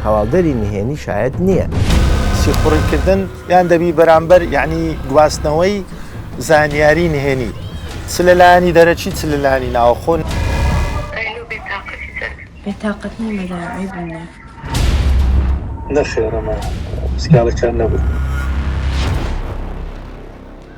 هەواڵدەری نهێنی شایەت نییە سیخوڕیکردن یان دەبی بەرامبەر یعنی گواستنەوەی زانیاری نهێنی چ لە لایانی دەرەچی چ لە لانی ناوخۆن بێتاقەت نیمەداعیبوونە نەخێڕەمە سکاڵەکان نەبوو.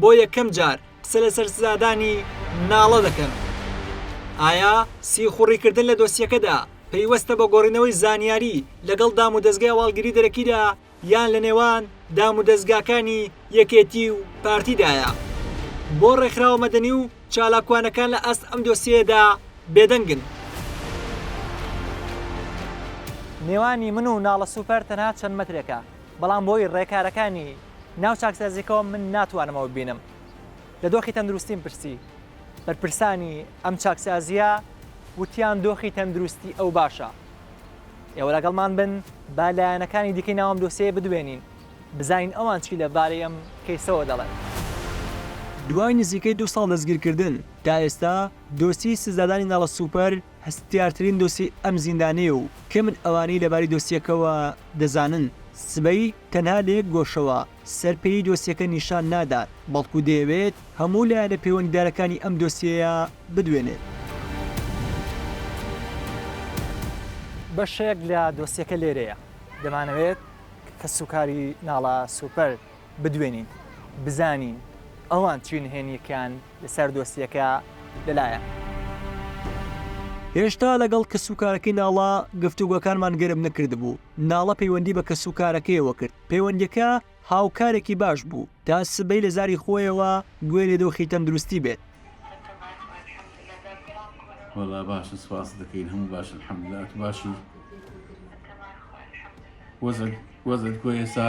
بۆ یەکەم جار قسە لەسەر سزادانی ناڵە دەکەن. ئایا سیخوڕیکردن لە دۆسیەکەدا پەیوەستە بە گۆڕینەوەی زانیاری لەگەڵ دامودەزگای هەواڵگری دەرەکیدا یان لە نێوان دامودەزگاکانی یەکێتی و پارتیدایە؟ بۆ ڕێکخراوە مەدەنی و چالاکوانەکان لە ئاست ئەم دۆسیەیەدا بێدەنگن؟ نێوانی من و ناڵە سوپەر تەنها چەند مەترێکە، بەڵام بۆی ڕێکارەکانی ناو چاکسازیەکەوە من ناتوانم ئەوە ببینم لە دۆخی تەندروستیم پرسی بەرپرسانی ئەم چاکسازیە وتیان دۆخی تەندروستی ئەو باشە ئێوە لەگەڵمان بن با لایەنەکانی دیکەی ناوم دۆسەیە بدوێنین بزانین ئەوان چی لەبارەی ئەم کەیسەوە دەڵێن. دوای نزیکەی دوو ساڵ دەستگیرکردن، تا ئێستا دۆسیەی سزادانی ناڵە سوپەر هەستیارترین دۆسیەی ئەم زیندانەیە و کەمن ئەوانەی لەباری دۆسیەکەوە دەزانن. سبەی تەنها لە یەک گۆشەوە سەر پێیی دۆسیەکە نیشان نادات، بەڵکو دەیەوێت هەموو لایەنە پەیوەندیدارەکانی ئەم دۆسیەیە بدوێنێت. بەشێک لە دۆسیەکە لێرەیە. دەمانەوێت کەسوکاری ناڵا سوپەر بدوێنین، بزانین ئەوان چی نهێنییەکیان لەسەر دۆسیەکە لەلایەن. هێشتا لەگەڵ کەسوکارەکەی ناڵە گفتوگۆکانمان گەرم نەکردبوو، ناڵە پەیوەندی بە کەسوکارەکەیەوە کرد، پەیوەندیەکە هاوکارێکی باش بوو، تا سبەی لە زاری خۆیەوە گوێ لە دۆخی تەندروستی بێت. وەڵا باشە سوپاست دەکەین هەموو باشە الحمدللە ئەتو باشی؟ وەزعت وەزعت کۆیە ئێستا؟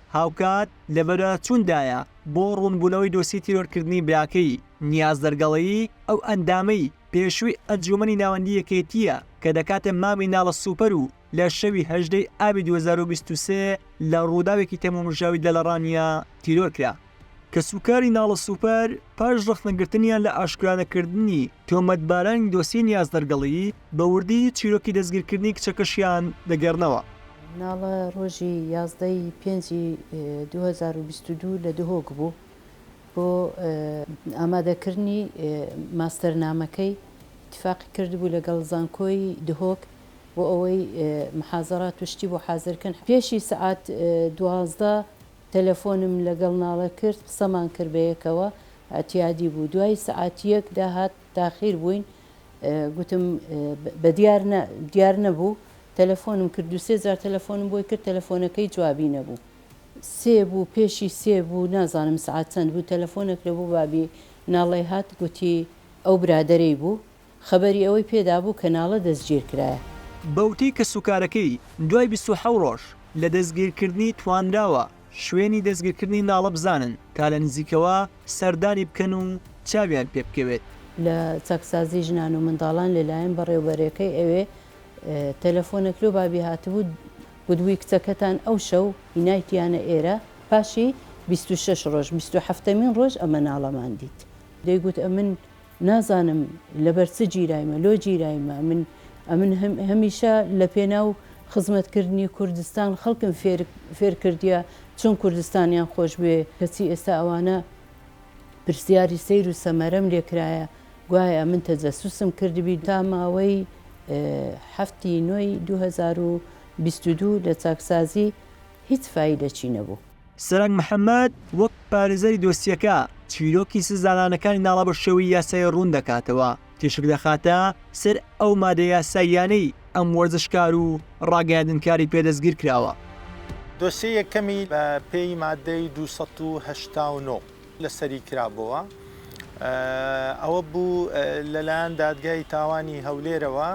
هاوکات لە بەدواداچووندایە بۆ ڕوونبوونەوەی دۆسیەی تیرۆرکردنی براکەی، نیاز دەرگەڵەیی، ئەو ئەندامەی پێشووی ئەنجوومەنی ناوەندیی یەکێتییە کە دەکاتە مامی ناڵە سوپەر و لە شەوی هەژدە ی ئابی دوو هەزار و بیست و سێ لە ڕووداوێکی تەمومژاوی دەلەڕانییە تیرۆرکرا. کەسوکاری ناڵە سوپەر پاش ڕەخنەگرتنیان لە ئاشکرانەکردنی تۆمەتبارانی دۆسیەی نیاز دەرگەڵی، بە وردی چیرۆکی دەستگیرکردنی کچەکەشیان دەگێڕنەوە. ناڵە ڕۆژی یازدە ی پێنجی دوو هەزار و بیست و دوو لە دهۆک بوو بۆ ئامادەکردنی ماستەرنامەکەی، ئیتفاقی کردبوو لەگەڵ زانکۆی دهۆک بۆ ئەوەی محازەرات و شتی بۆ حازرکەن، پێشی سەعات دوازدە تەلەفۆنم لەگەڵ ناڵە کرد قسەمان کرد بەیەکەوە ئەتیادی بوو دوای سەعات یەک داهات تاخیر بووین گوتم بەدیار نا دیار نەبوو تەلەفۆنم کرد دوو سێ جار تەلەفۆنم بۆی کرد تەلەفۆنەکەی جوابی نەبوو سێ بوو پێشی سێ بوو نازانم سەعات چەند بوو تەلەفۆنەکرە بۆ بابی ناڵەی هات گوتی ئەو برادەرەی بوو خەبەری ئەوەی پێدابوو کە ناڵە دەستگیرکرایە. بەوتەی کەسوکارەکەی، دوای بیست و حەوت ڕۆژ لە دەستگیرکردنی توانراوە شوێنی دەستگیرکردنی ناڵە بزانن تا لە نزیکەوە سەردانی بکەن و چاویان پێبکەوێت. لە چاکسازی ژنان و منداڵان لەلایەن بەڕێوبەرەکەی ئەوێ تەلەفۆنێک لۆ بابی هاتبوو گوتبووی کچەکەتان ئەو شەو هینایتیانە ئێرە پاشی بیست و شەش ڕۆژ بیست و حەفتەمین ڕۆژ ئەمە ناڵەمان دیت دەیگوت ئەمن نازانم لەبەر چ گیرایمە، لۆ گیرایمە؟ من ئەمن هەمیشە لە پێناو خزمەت کردنی کوردستان خەڵکم فێر فێر کردیە چۆن کوردستانیان خۆش بوێ، کەچی ئێستا ئەوانە پرسیاری سەیر و سەمەرەم لێ کرایە گوایە من تەجەسوسم کردبی، تا ماوەی حەفتی نۆی دوو هەزار و بیست و دوو لە چاکسازی هیچ فایدەکی نەبوو. سەرەنگ محەمەد وەک پارێزەری دۆسیەکە، چیرۆکی سزادانەکانی ناڵەبە شێوەی یاسایی ڕوون دەکاتەوە، تیشک دەخاتە سەر ئەو مادە یاساییانەی ئەم وەرزشکار و ڕاگەیاندنکاری پێ دەستگیرکراوە. دۆسیە یەکەمی بە پێی مادەی دوو سەد و هەشتا و نۆ، لەسەری کرابۆوە ئەوە بوو لەلایەن دادگای تاوانی هەولێرەوە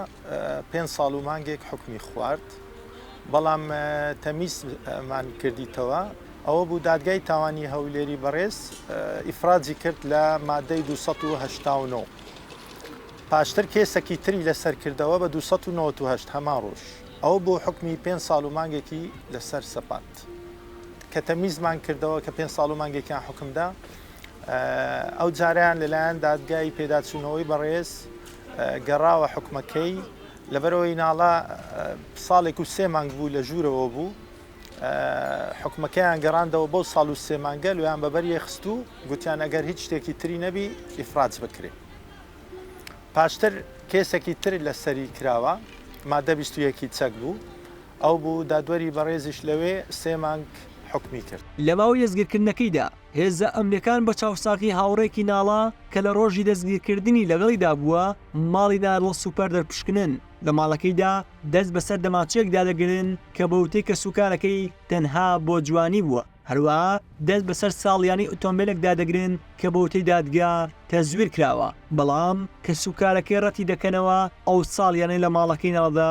پێ ساڵ و مانگێک حکمی خوارد بەڵام تەمیسمان کردیتەوە ئەوە بوو دادگای تاوانی هەولێری بەڕێز ئیفراجی کرد لە مادەی 1970 پاشتر کێسەکی تری لەسەر کردەوە بە 1970 هەمان ڕۆژ ئەو بۆ حکمی پێ ساڵ و مانگێکی لەسەر سەپان دەکرێت کە تەمیزمان کردەوە کە پێنج ساڵ و مانگێکیان حکمدا ئەو جاریان لەلایەن دادگای پێداچوونەوەی بەڕێز گەڕاوە حکومەکەی لەبەرەوەی ناڵە ساڵێک و سێ مانگ بوو لە ژوورەوە بوو حکومەکەیان گەڕاندەوە بەو ساڵ و سێمانگە لویان بەبەر یەخست و گوتیان ئەگەر هیچ شتێکی تری نەبی ئیفراج بکرێت پاشتر کێسێکی تر لەسەری کراوە مادە بیستویەکی چەک بوو ئەو بوو دادوەری بەڕێزیش لەوێ سێ مانگ حوکمی کرد. لە ماوەی دەستگیرکردنەکەیدا، هێزە ئەمنییەکان بە چاوساغی هاوڕێیەکی ناڵە کە لە ڕۆژی دەستگیرکردنی لەگەڵیدا بووە، ماڵی نارڵ سوپەر دەرپشکنن، لە ماڵەکەیدا دەست بەسەر دەمانچەیەکدا دەگرن کە بە وتەی کەسوکارەکەی تەنها بۆ جوانی بووە، هەروەها دەست بەسەر ساڵیانەی ئۆتۆمبێلێکدا دەگرن کە بە وتەی دادگا تەزویر کراوە، بەڵام کەسوکارەکەی ڕەتیدەکەنەوە ئەو ساڵیانەی لە ماڵەکەی ناڵەدا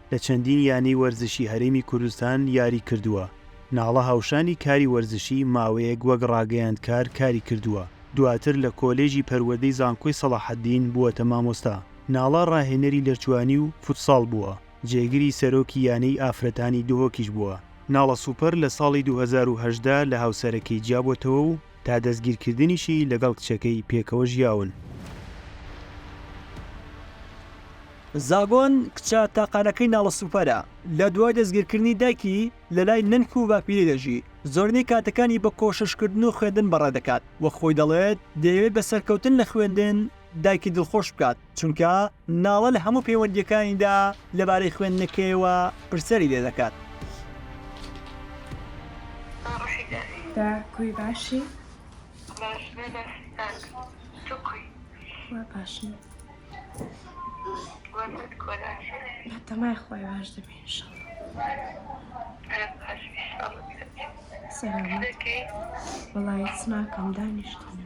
لە چەندین یانەی وەرزشی هەرێمی کوردستان یاری کردووە، ناڵە هاوشانی کاری وەرزشی ماوەیەک وەک ڕاگەیاندکار کاری کردووە، دواتر لە کۆلێژی پەروەردەی زانکۆی سەڵاحەدین بووەتە مامۆستا، ناڵە ڕاهێنەری لەرجوانی و فوتساڵ بووە، جێگری سەرۆکی یانەی ئافرەتانی دهۆکیش بووە، ناڵە سوپەر لە ساڵی دوو هەزار و هەژدە لە هاوسەرەکەی جیابووەتەوە و، تا دەستگیرکردنیشی لەگەڵ کچەکەی پێکەوە ژیاون. زاگۆن، کچە تاقانەکەی ناڵە سوپەرە، لە دوای دەستگیرکردنی دایکی، لەلای نەنک و باپیری دەژی، زۆرینەی کاتەکانی بە کۆششکردن و خوێندن بەڕێدەکات و خۆی دەڵێت دەیەوێت بە سەرکەوتن لە خوێندن دایکی دڵخۆش بکات، چونکە ناڵە لە هەموو پەیوەندییەکانیدا لەبارەی خوێندنەکەیەوە پرسیاری لێ دەکات. دا کوی باشی باشن تەمای خۆی باش دەبین وڵایت سناکەم دانیشتنە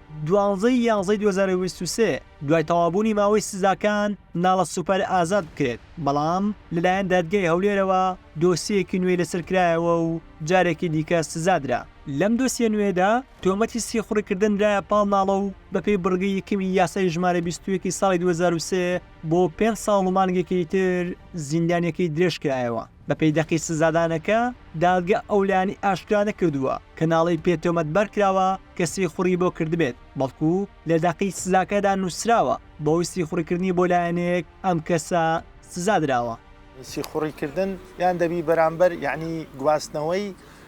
دوانزە ی یانزەی دوو هەزار و بیست و سێ دوای تەواوبوونی ماوەی سزاکان ناڵە سوپەر ئازاد بکرێت، بەڵام لەلایەن دادگای هەولێرەوە دۆسیەیەکی نوێی لەسەر کرایەوە و جارێکی دیکە سزا درا. لەم دۆسیە نوێیەدا تۆمەتی سیخوڕی کردن درایە پاڵ ناڵە و بەپێی بڕگەی یەکەمی یاسای ژمارە بیست و یەک ی ساڵی دوو هەزار و سێ بۆ پێنج ساڵ و مانگێکی تر زیندانیەکەی درێژ کرایەوە. بەپێی دەقی سزادانەکە، دادگە ئەو لایەنەی ئاشکرا نەکردووە کە ناڵەی پێ تۆمەتبار کراوە کە سیخوڕی بۆ کردبێت، بەڵکو لە دەقی سزاکەدا نووسراوە بەهۆی سیخوڕیکردنی بۆ لایەنێک ئەم کەسە سزا دراوە. سیخوڕیکردن یان دەبی بەرامبەر یانی گواستنەوەی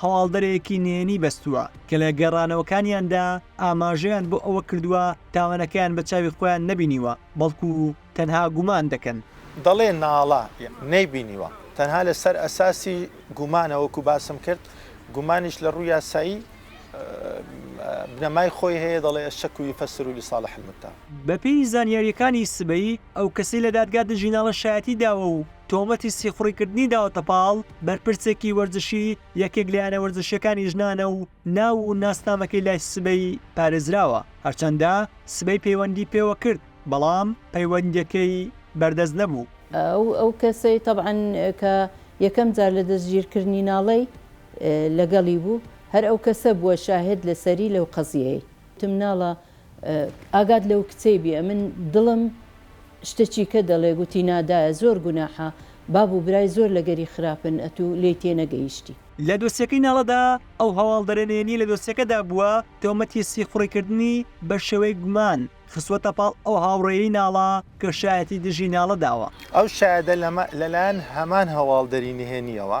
هەواڵدەرێکی نهێنی بەستووە کە لە گەڕانەوەکانیاندا ئاماژەیان بۆ ئەوە کردووە تاوانەکەیان بە چاوی خۆیان نەبینیوە، بەڵکو تەنها گومان دەکەن. دەڵێ ناڵە ی نەیبینیوە، تەنها لەسەر ئەساسی گومانە، وەکو باسم کرد گومانیش لە ڕووی یاسایی بنەمای خۆی هەیە، دەڵێ الشک یفسر لصالح المتهم. بەپێی زانیارییەکانی سبەی، ئەو کەسەی لە دادگا دژی ناڵە شایەتی داوە و تۆمەتی سیخوڕیکردنی داوەتە پاڵ بەرپرسێکی وەرزشی یەکێک لە یانە وەرزشییەکانی ژنانە و ناو و ناسنامەکەی لای سبەی پارێزراوە، هەرچەندە سبەی پەیوەندی پێوە کرد، بەڵام پەیوەندییەکەی بەردەست نەبوو. ئەو کەسەی تەبعەن کە یەکەم جار لە دەستگیرکرنی ناڵەی لەگەڵی بوو، هەر ئەو کەسە بووە شاهێد لەسەری لەو قەزیەیەی. تمناڵە ئاگات لەو کچەی بی ئەمن دڵم شتە چیکە دەڵێ گوتی نادایە زۆر گوناحە باب و برای زۆر لەگەری خراپن ئەتو لێی تێنەگەیشتی. لە دۆسیەکەی ناڵەدا ئەو هەواڵدەرە نهێنیە لە دۆسیەکەدا بووە تۆمەتی سیخوڕی کردنی بە شێوەی گومان خستووەتە پاڵ ئەو هاوڕێیەی ناڵە کە شایەتی دژی ناڵە داوە. ئەو شایەدە لەلایەن هەمان هەواڵدەری نهێنیەوە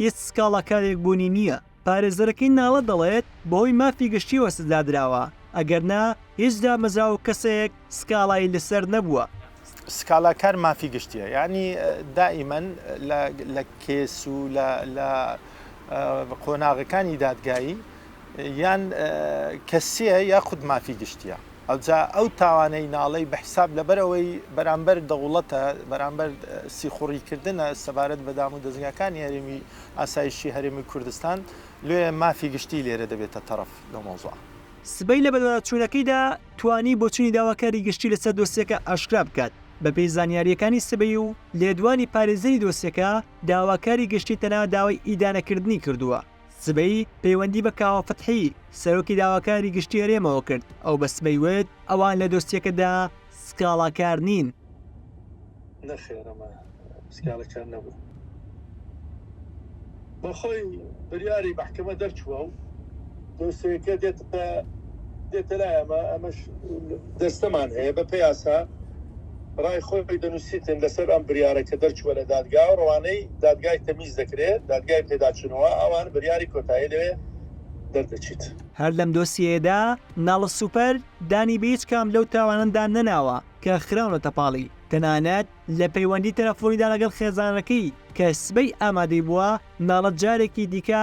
هیچ سکاڵاکارێک بوونی نییە. پارێزەرەکەی ناڵە دەڵێت، بەهۆی مافی گشتییەوە سزا دراوە، ئەگەرنا هیچ دامەزراوە و کەسێک سکاڵای لەسەر نەبووە. سکاڵاکار مافی گشتییە، یانی دائیمەن لە کەیس و لە قۆناغەکانی دادگایی یان کەسییە یاخود مافی گشتییە. ئەوجا ئەو تاوانەی ناڵێی بە حیساب لەبەر ئەوەی بەرامبەر دەوڵەتە، بەرامبەر سیخوڕی کردنە سەبارەت بە دام و دەزگاکانی هەرێمی ئاسایشی هەرێمی کوردستان، لۆیە مافی گشتی لێرە دەبێتە تەڕەف لەو مەوزوعە. سبەی لە بەدواداچوونەکەیدا توانی بۆچوونی داواکاری گشتی لەسەر دۆسیەکە ئاشکرا بکات، بەپێی زانیارییەکانی سبەی و لێدوانی پارێزەری دۆسیەکە، داواکاری گشتی تەنها داوای ئیدانەکردنی کردووە. سبەی پەیوەندی بە کاوە فەتحی، سەرۆکی داواکاری گشتی هەرێمەوە کرد، ئەو بە سبەی وت، ئەوان لە دۆسیەکەدا سکاڵاکار نین. نەخێر ئەمە سکاڵاکار نەبوو، بەخۆی بریاری مەحکەمە دەرچووە و دۆسیەکە دێتە کە دێتە لای ئەمە ئەمەش دەستەمان هەیە بە پێیاسا ڕای خۆی دەنووسیتن لەسەر ئەم بریارە کە دەرچووە لە دادگا و ڕەوانەی دادگای تەمیز دەکرێت دادگای پێداچنەوە ئەوان بریاری کۆتایی لەوێ دەردەچیت. هەر لەم دۆسیەیەدا ناڵ سوپەر دانی بە هیچ کام لەو تاوانەدا نەناوە کە خراونەتە پاڵی، تەنانەت لە پەیوەندی تەلەفۆنیدا لەگەڵ خێزانەکەی کە سبەی ئامادەی بووە، ناڵ جارێکی دیکە،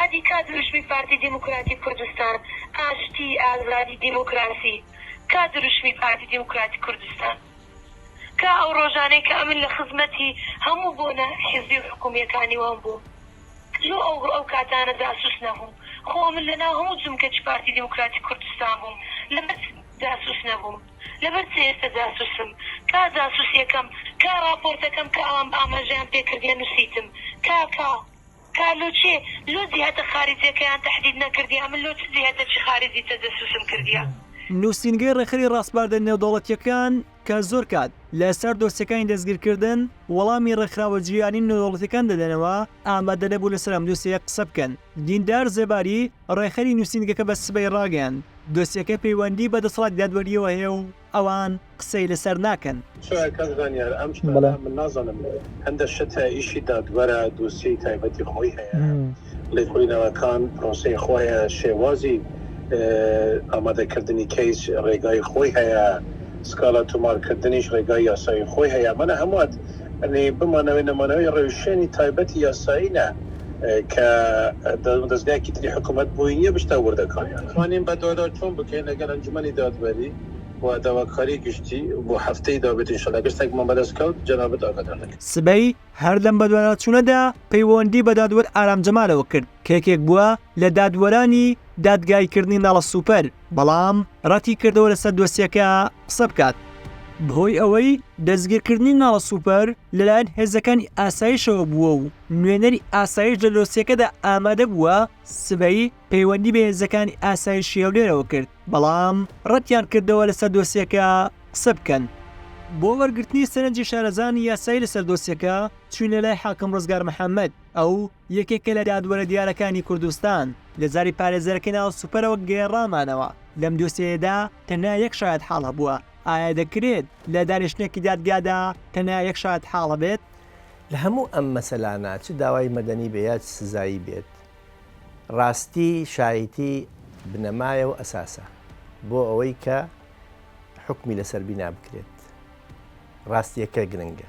ئەدی کا دروشمی پارتی دیموکراتی کوردستان ئاشتی ئازادی دیموکراسی کا دروشمی پارتی دیموکراتی کوردستان کا ئەو ڕۆژانەی کە ئەمن لە خزمەتی هەموو بۆنە حزبی و حکومیەکانی وان بووم لۆ ئەو ئەو کاتانە جاسوس نەبووم خۆ ئەمن لە ناو هەموو جمکەچ پارتی دیموکراتی کوردستان بووم لە بەر چ جاسوس نەبووم لە بەر چ ئێستە جاسوسم کا جاسوسیەکەم کا ڕاپۆرتەکەم کە ئەوان ئاماژەیان پێ کردیە نوسیتم کا کا تا لۆ چێ لۆ جیهەتە خارجیەکەیان تەحدید نەکردیە ئەمن لۆ چ جیهەتەکی خارجی تەجەسوسم کردیە. نوسینگەی ڕێکخەری ڕاسپاردە نێودەوڵەتیەکان کە زۆر کات لە سەر دۆسیەکانی دەستگیرکردن وەڵامی ڕێکخراوە جیهانی نێودەوڵەتیەکان دەدەنەوە ئامادە نەبوو لەسەر ئەم دۆسیەیە قسە بکەن دیندار زێباری ڕێکخەری نوسینگەکە بە سبەی ڕاگەیاند دۆسیەکە پەیوەندی بە دەسەڵاتی دادوەریەوە هەیە و ئەوان قسەی لەسەر ناکەن. سۆرا کاک زانیار ئەم شتانە من نازانم هەندە شت هەیە ئیشی دادوەرە دۆسیەی تایبەتی خۆی هەیە لێکۆڵینەوەکان پرۆسەی خۆی هەیە شێوازی ئامادە کردنی کەیس ڕێگای خۆی هەیە سکاڵا تومار کردنیش ڕێگای یاسایی خۆی هەیە ئەمانە هەمووات یەعنی بمانەوەی نەمانەوەی ڕێوشوێنی تایبەتی یاسایی نا کە دەزگایەکی تری حکومەت بۆی نیە بچتە وردەکاریان. توانین بەدوادا چۆن بکەین لەگەل ئەنجومەنی دادوەری و داواکاری گشتی بۆ هەفتەی دابێت ان شاءاللە گەر شتێکمان بەدەست کەوت جەنابت ئاگادار دەکەین. سبەی هەر لەم بەدواداچوونەدا پەیوەندی بە دادوەر ئارام جەمالەوە کرد کە یەکێک بووە لە دادوەرانی دادگاییکردنی ناڵە سوپەر، بەڵام ڕەتیکردەوە لەسەر دۆسیەکە قسە بکات بەهۆی ئەوەی دەستگیرکردنی ناڵە سوپەر لەلایەن هێزەکانی ئاسایشەوە بووە و نوێنەری ئاسایش لە دۆسیەکەدا ئامادە بووە، سبەی پەیوەندی بە هێزەکانی ئاسایشی هەولێرەوە کرد، بەڵام ڕەتیان کردەوە لەسەر دۆسیەکە قسە بکەن. بۆ وەرگرتنی سەرنجی شارەزانی یاسایی لەسەر دۆسیەکە چووینە لای حاکم ڕزگار محەممەد، ئەو یەکێکە لە دادوەرە دیارەکانی کوردستان، لە زاری پارێزەرەکەی ناو سوپەرەوە گێڕامانەوە، لەم دۆسیەیەدا تەنیا یەک شایەتحاڵ هەبووە، ئایا دەکرێت لە دانیشتنێکی دادگادا تەنیا یەک شایەتحاڵ هەبێت؟ لە هەموو ئەم مەسەلانە چ داوای مەدەنی بێ یا چ سزایی بێت، ڕاستی شایتی بنەمایە و ئەساسە بۆ ئەوەی کە حوکمی لەسەر بینابکرێت، ڕاستییەکە گرنگە،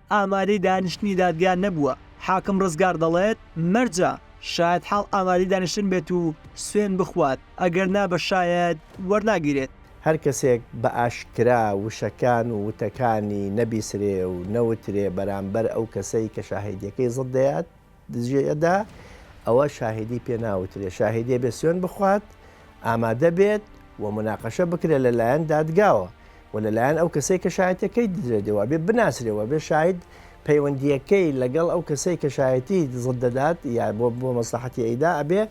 ئامادەی دانیشتنی دادگا نەبووە، حاکم ڕزگار دەڵێت، مەرجە شایەتحاڵ ئامادەی دانیشتن بێت و سوێند بخوات، ئەگەرنا بە شایەت وەرناگیرێت. هەر کەسێک بە ئاشکرا وشەکان و وتەکانی نەبیسرێ و نەوترێ بەرامبەر ئەو کەسەی کە شاهێدییەکەی زەد دەیات، دزییەدا ئەوە شاهیدی پێ ناوترێ شاهیدێ بێ سوێن بخوات ئامادە بێت و مناقەشە بکرێت لە لایەن دادگاوە و لە لایەن ئەو کەسەی کە شایەتەکەی دزێتەوە بێ بناسرێەوە بێ شاید پەیوەندیەکەی لەگەڵ ئەو کەسەی کە شایەتی دزت دەدات یا بۆ بۆ مەسلحەتی ئەیدا ئەبێ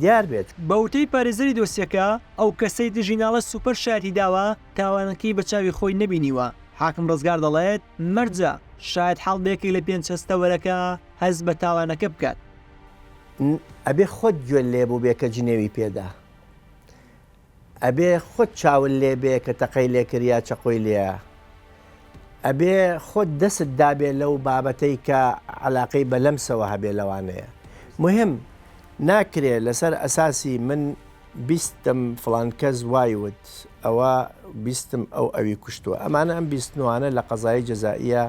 دیار بێت بەوتەی پارێزەری دۆسیەکە ئەو کەسەی دژی ناڵە سوپەر شایەتی داوە تاوانەکەی بە چاوی خۆی نەبینیوە حاکم ڕزگار دەڵێت مەرجە شایەت حاڵ بەیەکێک لە پێنج هەستەوەرەکە هەست بە تاوانەکە بکات. ن ئەبێ خۆت گوێت لێ بووبێ کە جنێوی پێدا. ئەبێ خۆت چاول لێ بێ کە تەقەی لێ کرد یا چەقۆی لێ. ئەبێ خۆت دەست دابێ لەو بابەتەی کە عەلاقەی بە لەمسەوە هەبێ لەوانەیە. مهم ناکرێ لەسەر ئەساسی من. بیستم فڵان کەس وای وت ئەوە بیستم ئەو ئەوی کوشتوە ئەمانە ئەم بیستنوانە لە قەزایی جەزائیە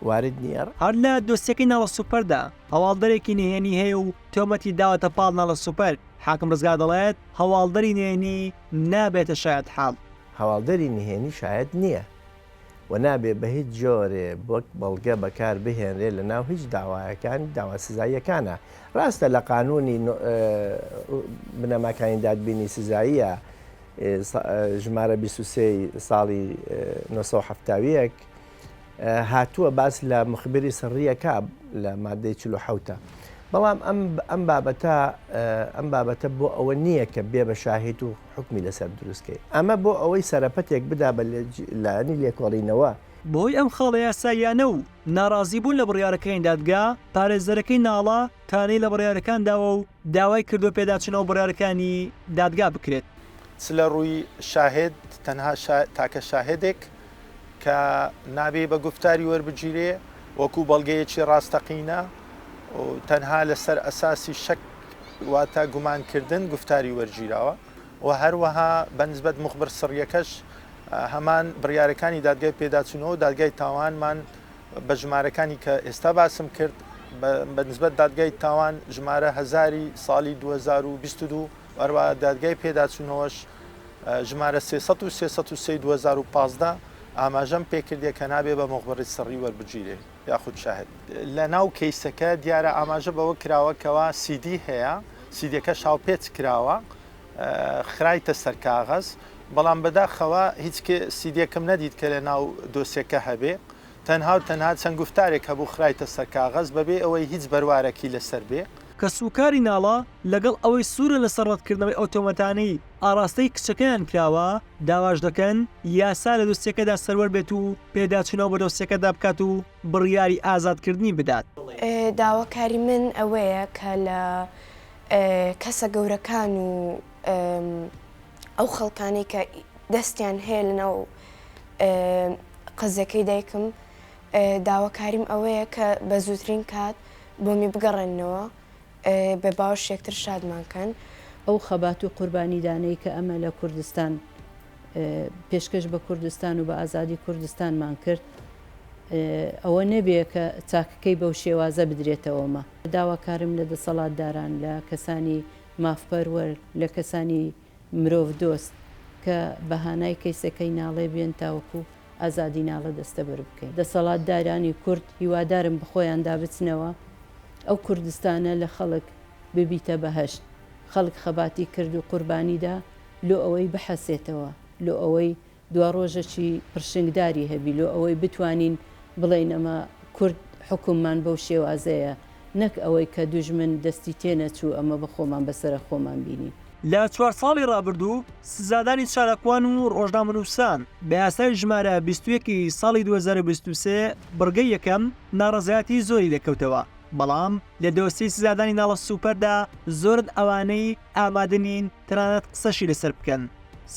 وارد نیە. هەر لە دۆسیەکەی ناڵە سوپەردا هەواڵدەرێکی نهێنی هەیە و تۆمەتی داوەتە پاڵ ناڵە سوپەر، حاکم ڕزگار دەڵێت، هەواڵدەری نهێنی نابێتە شایەتحاڵ. هەواڵدەری نهێنی شایەت نییە. و نابێ بە هیچ جۆرێ وەک بەڵگە بەکار بهێنرێ لە ناو هیچ داوایەکان داوا سزاییەکانا. ڕاستە لە قانوونی بنەماکانی دادبینی سزاییە ژمارە بیست و سێ ی ساڵی نۆ سەد و حەفتا و یەک هاتووە باس لە مخبری سڕییە کا لە مادەی چل و حەوت بەڵام ئەم بابەتە ئەم بابەتە بۆ ئەوە نییە کە بێ بە شاهید و حوکمی لەسەر دروست کەی. ئەمە بۆ ئەوەی سەرەپەتێک بدا بە لایەنی لێکۆڵینەوە. بەهۆی ئەم خاڵە یاساییانە و ناڕازیبوون لە بڕیارەکانی دادگا، پارێزەرەکەی ناڵە تانەی لە بڕیارەکان داوە و داوای کردووە پێداچوونەوە بڕیارەکانی دادگا بکرێت. چ لە ڕووی شاهێد، تەنها تاکە شاهێدێک کە نابێ بە گوفتاری وەربگیرێ وەکوو بەڵگەیەکی ڕاستەقینە و تەنها لەسەر ئەساسی شەک، واتە گومان کردن گفتاری وەرگیراوە و هەروەها بەنسبەت مخبر سڕیەکەش هەمان بڕیارەکانی دادگای پێداچوونەوە دادگای تاوانمان بە ژمارەکانی کە ئێستا باسم کرد بەنسبەت دادگای تاوان ژمارە هزاری ساڵی 2022 وەروە دادگای پێداچوونەوەش ژمارە 300 و 3 2015 ئاماژەم پێکردە کە نابێ بە مخبڕی سڕی وەربگیرێ. یاخود شاهد. لە ناو کەیسەکە دیارە ئاماژە بەوە کراوە کەوا سیدی هەیە، سیدیەکەش هاوپێچ کراوە خرایتە سەر کاغەز، بەڵام بەداخەوە هیچ سیدیەکم نەدیت کە لە ناو دۆسیەکە هەبێ، تەنها و تەنها چەند گوفتارێک هەبوو خرایتە سەر کاغەز بەبێ ئەوەی هیچ بەروارەکی لەسەر بێ. کەسوکاری ناڵە، لەگەڵ ئەوەی سوورە لەسەر ڕەتکردنەوەی ئەو تۆمەتانەی ئاڕاستەی کچەکەیان کراوە، داواش دەکەن یاسا لە دۆسیەکەدا سەروەر بێت و پێداچوونەوە بە دۆسیەکەدا بکات و بڕیاری ئازادکردنی بدات. داواکاری من ئەوەیە کە لە کەسە گەورەکان و ئەو خەڵکانەی کە دەستیان هەیە لەناو قەزیەکەی دایکم، داواکاریم ئەوەیە کە بە زووترین کات بۆمی بگەڕێننەوە بێ باوەش یەکتر شادمان کەن. ئەو خەبات و قوربانیدانەی کە ئەمە لە کوردستان پێشکەش بە کوردستان و بە ئازادی کوردستانمان کرد ئەوە نەبێ کە چاکەکەی بەو شێوازە بدرێتەوە مە داواکارم لە دەسەڵاتداران لە کەسانی مافپەروەر لە کەسانی مرۆڤ دۆست کە بە هانای کەیسەکەی ناڵێ بێن تاوەکو ئازادی ناڵە دەستەبەر بکەین. دەسەڵاتدارانی کورد هیوادارم بەخۆیاندا بچنەوە ئەو کوردستانە لە خەڵک ببیتە بەهەشت خەڵک خەباتی کرد و قوربانی دا لۆ ئەوەی بحەسێتەوە لۆ ئەوەی دواڕۆژەکی پڕشنگداری هەبی لۆ ئەوەی بتوانین بڵێین ئەمە کورد حوکممان بەو شێوازەیە نەک ئەوەی کە دوژمن دەستی تێنەچوو ئەمە بە خۆمان بە سەرە خۆمان بینی. لە چوار ساڵی ڕابردوو سزادانی چالاکوان و ڕۆژنامەنووسان بە یاسای ژمارە بیست و یەک ی ساڵی دوو هەزار و بیست و سێ بڕگەی یەکەم ناڕەزایەتی زۆری لێکەوتەوە بەڵام لە دۆسیەی سزادانی ناڵە سوپەردا زۆرن ئەوانەی ئامادە نین تەنانەت قسەشی لەسەر بکەن.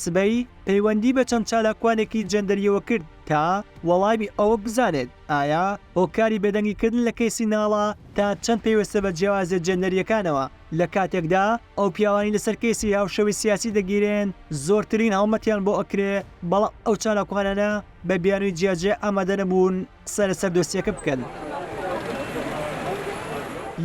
سبەی پەیوەندی بە چەند چالاکوانێکی جێندەرییەوە کرد تا وەڵامی ئەوە بزانێت ئایا هۆکاری بێدەنگیکردن لە کەیسی ناڵە تا چەند پەیوەستە بە جیاوازییە جێندەرییەکانەوە، لە کاتێکدا ئەو پیاوانەی لەسەر کەیسی هاوشێوەی سیاسی دەگیرێن زۆرترین هەڵمەتیان بۆ ئەکرێ، بەڵام ئەو چالاکوانانە بە بیانووی جیاجیا ئامادە نەبوون قسە لەسەر دۆسیەکە بکەن.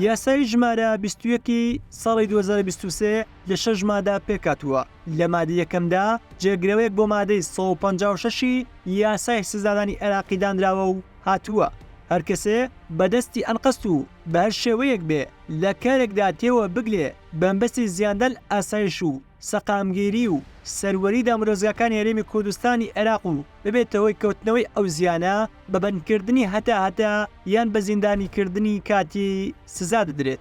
یاسای ژمارە بیست و یەک ی ساڵی دوو هەزار و بیست و سێ، لە شەش مادە پێکهاتووە، لە مادەی یەکەمدا جێگرەوەیەک بۆ مادەی سەد و پەنجا و شەش ی یاسای سزادانی عێراقی دانراوە و هاتووە، هەر کەسێ بە دەستی ئەنقەست و بە هەر شێوەیەک بێ لە کارێکدا تێوە بگلێ بەمبەستی زیاندان ئاسایش و سەقامگیری و سەروەری دامودەزگاکانی هەرێمی کوردستانی عێراق و ببێتە هۆی کەوتنەوەی ئەو زیانە بە بەندکردنی هەتا هەتا یان بە زیندانیکردنی کاتی سزا دەدرێت.